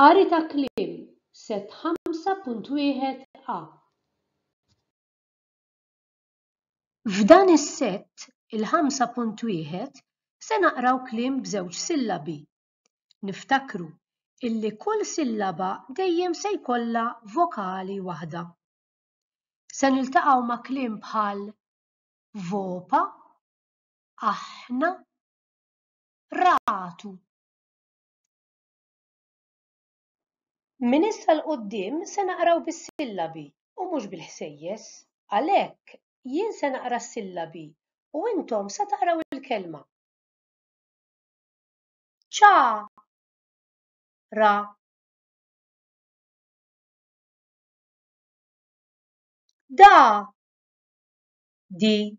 Qari ta' kliem, Sett 5.1 a. F'dan is-sett, il-5.1, se naqraw kliem b'żewġ sillabi. Niftakru illi kull sillaba dejjem se jkollha vokali waħda. Se niltaqgħu ma' kliem bħal vopa, aħna, ratu. Minn issa 'l quddiem se naqraw bis-sillabi u mhux bil-ħsejjes. Għalhekk, jien se naqra s-sillabi u intom se taqraw il-kelma. Ċa ra Da di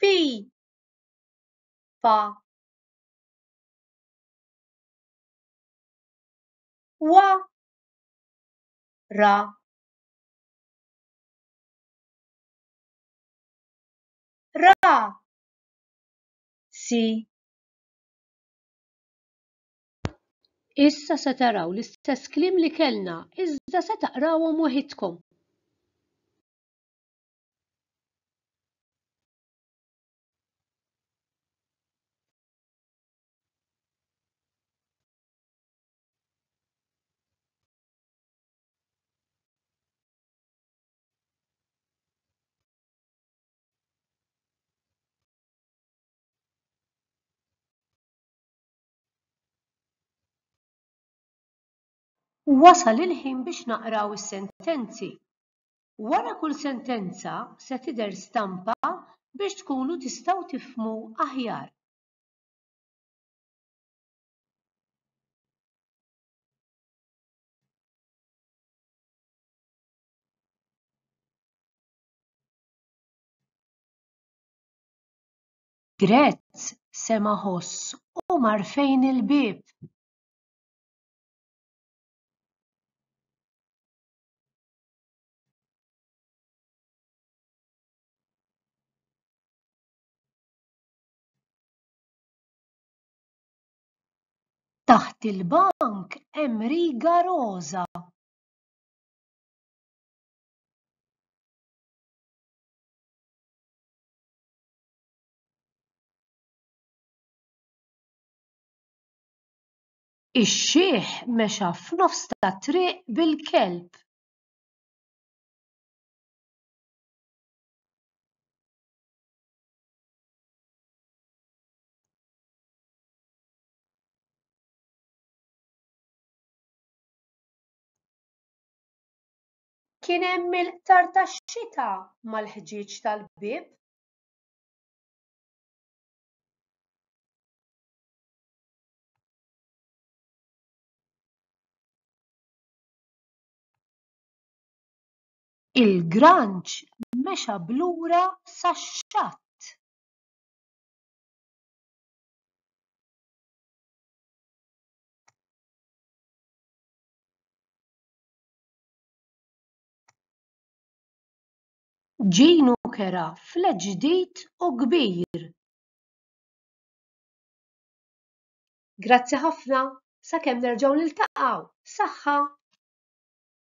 Pi! Pa! Wa! Ra! Ra! Si! Issa se taraw l-istess kliem li kellna, iżda se taqrawhom waħidkom. Wasal il-ħin biex naqraw is-sentenzi. Wara kull sentenza se tidher stampa biex tkunu tistgħu tifhmu aħjar. Grez sema' ħoss u mar fejn il-bieb. Taħt il-bank hemm riga roża. Ix-xiħ mexa f'nofs tat-triq bil-kelb. Kien hemm il-qtar tax-xita mal-ħġieġ tal-bieb. Il-granċ mexa b'lura sax-xatt. Ġinu kera flet ġdid u kbir. Grazzi ħafna, sakemm nerġgħu niltaqgħu, saħħa!